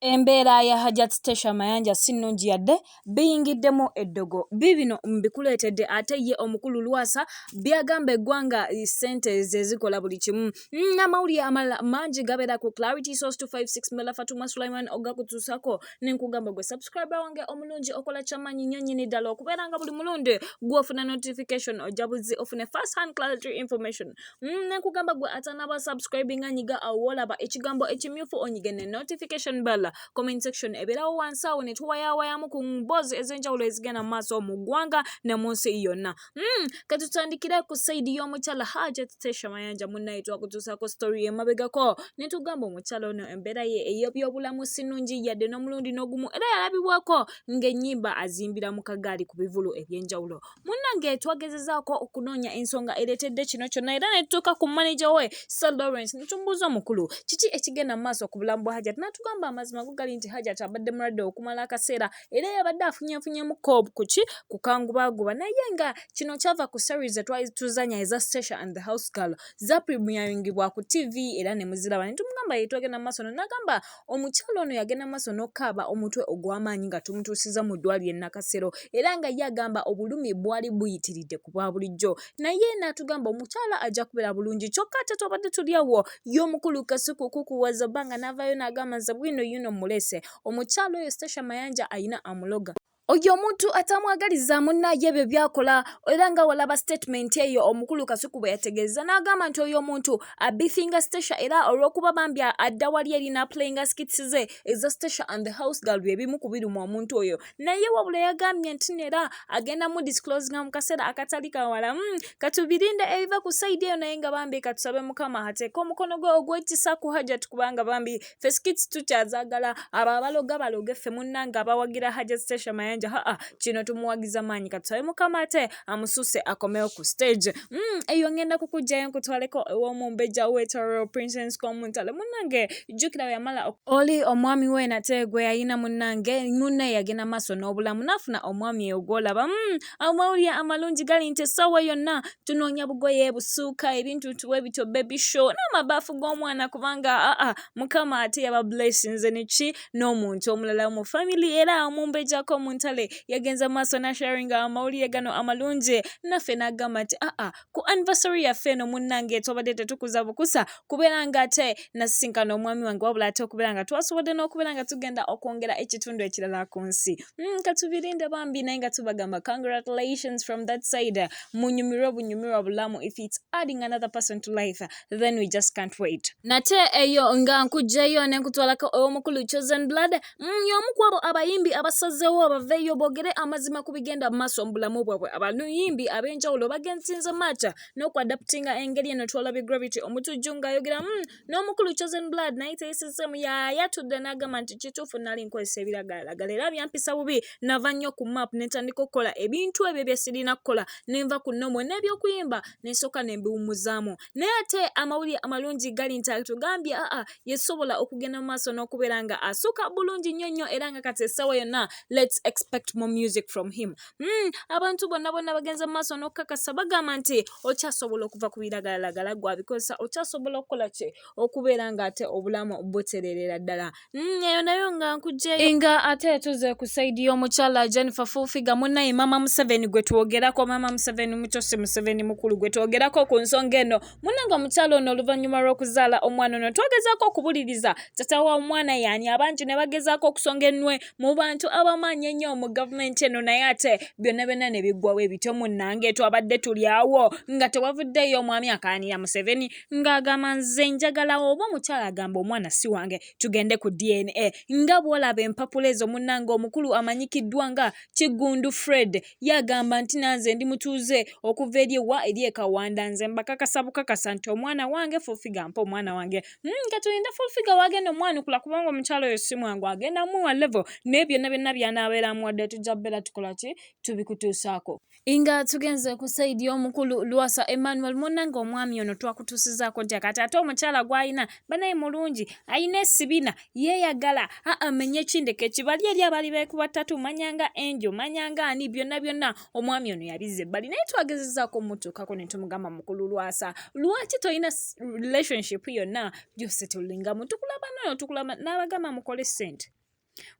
Embeera ya Hajjat Stecia Mayanja si nnungi yadde, biyingiddemu eddogo. Biibino mbikuleetedde ate ye omukulu Lwasa by'agamba eggwanga ssente ze zikola buli kimu. Mm, n'amawulire amalala mangi gabeera ku Clarity Source 256 Mela Fatuma Sulaiman ogakutuusako ne nkugamba gwe subscriber wange omulungi okola kyamaanyi nnyo nnyini ddala okubeera nga buli mulundi gw'ofuna notification ojja buzzi ofune first hand clarity information Mm, nekugamba gwe atanaba subscribinga nyiga awo wolaba ekigambo ekimyufu onyige ne notification bell comment section ebeerawo wansi awo netwewayawayamu ku mboozi ez'enjawulo ezigenda mu maaso mu ggwanga ne mu nsi yonna mm, katutandikire ku saidi y'omukyala hajat tesha mayanja munnaye twakutuusaako story emabegako netugamba omukyala ono embeera ye ey'ebyobulamu sinungi yadde n'omulundi n'ogumu era yalabibwako ng'ennyimba azimbira mu kagaali ku bivulu eby'enjawulo munnange twagezezaako okunoonya ensonga ereetedde kino kyonna era ne tutuuka ku maneja we sir lawrence ne tumubuuza omukulu kiki ekigenda mu maaso ku bulamu bwa hajat n'atugamba amazima go gali nti hajat abadde mulwadde okumala akaseera era yabadde afunyeefunyemu kob ku ki kukangubaaguba naye nga kino kyava ku series etwali tuzanya eza stasha and the house girl zaprimiyaringibwa ku tv era ne muziraba ne tumugamba yetwagenda mu maaso no n'agamba Omukyala ono yagenda maaso n'okukaaba omutwe ogw'amaanyi nga tumutuusiza mu ddwaaliro e Nakasero era nga ye agamba obulumi bwali buyitiridde ku bwa bulijjo naye n'atugamba omukyala ajja kubeera bulungi kyokka ate twabadde tuli awo ye omukulu kasuku kukuwaza bbanga n'avaayo n'agamba nze bwino yuno mulese omukyala oyo Stecia Mayanja alina amuloga oyo omuntu atamwagaliza munnaye ebyo byakola era nga walaba sitatimenti eyo omukulu kasuku bwe yategeeza n'agamba nti oyo omuntu abifinga stacia era olw'okuba bambi adda wali eri n'apulayinga skits ze eza stacia and the house gal bye bimu ku biruma omuntu oyo naye wabula yagambye nti neera agenda mu disclosinga mu kaseera akatali kawala hmm, katubirinde ebiva ku sayidi eyo naye nga bambi katusabe mukama ateeka omukono gwe ogwekisa ku hajat kubanga bambi ffe skits tukyazagala abo abaloga baloge ffe munnange abawagira hajat station mayanja haa kino tumuwagiza maanyi katusabe mukama ate amususe akomewo ku stage mm, eyo ngenda kukugjayo nkutwaleko ewomumbejja wetorero princess komuntale munnange jjukira weyamala oli omwami we nate gwe yayina munnange munne yagenda maaso n'obulamu naafuna omwami eyo gwolaba mm, amawulire amalungi gali nti essaawa yonna tunoonya bugoye busuuka ebintu tuwe bityo baby show n'amabaafu g'omwana kubanga aa mukama ate yaba blessings neki n'omuntu omulala mu family era omumbejako mu ntale yagenza maaso nasharinga amawulire gano amalungi naffe n'agamba nti aa ku anniversary yaffe eno munnange twabadde tetukuza bukusa kubeera nga ate nasisinkana omwami wange wabula ate okubeera nga twasobodde n'okubeera nga tugenda okwongera ekitundu ekirala ku nsi hmm, katubirinde bambi naye nga tubagamba congratulations from that side munyumirwe bunyumirwa bulamu if it's adding another person to life then we just can't wait nate eyo nga nkujjayo ne nkutwalako ow'omukulu chosen blood Mm, y'omu ku abo abayimbi abasazeewo baveeyo boogere amazima ku bigenda mu maaso mu bulamu bwabwe abayimbi ab'enjawulo bagensinze maaca n'okuadaputinga engeri eno twalabye gravity omutujju ng'ayogera mm, n'omukulu chosen blood naye teyisizemu yayatudde n'agamba nti kituufu nali nkozesa ebiragalalagala era byampisa bubi nava nnyo ku map ne ntandika okukola ebintu ebyo bye sirina kukola ne nva ku nomo n'ebyokuyimba ne nsooka ne mbiwummuzaamu naye ate amawulire amalungi gali nti atugambye aa yesobola okugenda mu maaso n'okubeera nga asuka bulungi nnyo nnyo era nga kati essaawa yonna let's expect more music from him mm, abantu bonna bonna bagenze mu maaso n'okukakasa bagamba nti okyasobola okuva ku biragalalagala gwabikozesa okyasobola okukola ki okubeera nga ate obulamu butererera ddala Mm, eyo nayo nga nkugyeyo nga ate tuze ku saidi y'omukyala jennifer fufiga munaye mama museveni gwe twogerako mama museveni mutosi museveni mukulu gwe twogerako ku nsonga eno munange omukyala ono oluvannyuma lw'okuzaala omwana ono twagezaako okubuliriza tata wa omwana yaani abangi ne bagezaako okusonga ennwe mu bantu abamaanyi ennyo mu gavumenti eno naye ate byonna byonna ne biggwawo ebityo munange twabadde tuli awo nga tewavuddeyo omwami akaanira museveni ng'agamba nze njagala oba omukyala agamba omwana si wange tugende ku dna nga bw'olaba empapula ezo munnange omukulu amanyikiddwa nga kiggundu fred yagamba nti nanze ndi mutuuze okuva eri ewa eri ekawanda nze mbakakasa bukakasa nti omwana wange fulfiga mpa omwana wange hmm, nga tulinde fulfiga wagenda omwanukula kubanga omukyala oyo si mwangu agenda muwa levo naye byonna byonna byanabeera amuwadde tujja bbeera tukola ki tubikutuusaako Inga tugenze ku sayidi y'omukulu Lwasa Emmanuel munnange omwami ono twakutuusizaako ntya kati ate omukyala gw'alina banaye mulungi alina esibina yeeyagala aa menye kindeka ekibali eri abali beekuba ttatu manyanga enjo manyanga ani byonna byonna omwami ono yabizza ebbali naye twagezezaako omutuukako ne tumugamba mukulu Lwasa lwaki tolina relationship yonna byose tulingamu tukulaba nono tukulaba n'abagamba mukole ssente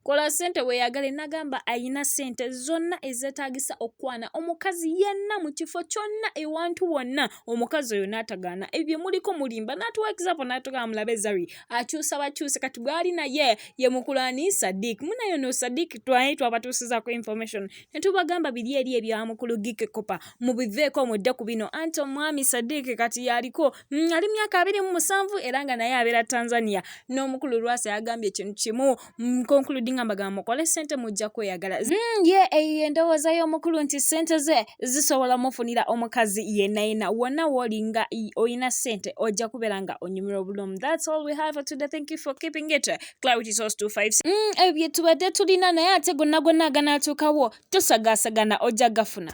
kola sente weyagale nagamba ayina sente zonna ezetagisa okukwana omukazi yenna mu kifo kyonna ewantu wonna omukazi oyo natagaana ebyo muliko mulimba natuwa example natugamba mulabe zari akyusa bakyuse kati bwali naye ye mukulani sadik munayo no sadik twaye twabatuusizako information netubagamba biri eri ebya mukulu gike kopa mubiveeko mudde ku bino anti omwami sadik kati yaliko mm, ali myaka abiri mu musanvu era nga naye abeera tanzania n'omukulu lwasa yagambye ekintu kimu mm, concluding amagambo mukole sente mujja kweyagala mm, ye eyo endowooza y'omukulu nti sente ze zisobola mufunira omukazi yenna yenna wonna wooli nga olina sente ojja kubeera nga onyumira obulumi thats all we have today thank you for keeping it clarity source 25 mm, ebyo tubadde tulina naye ate gonna gonna aganaatuukawo tosagaasagana ojja gafuna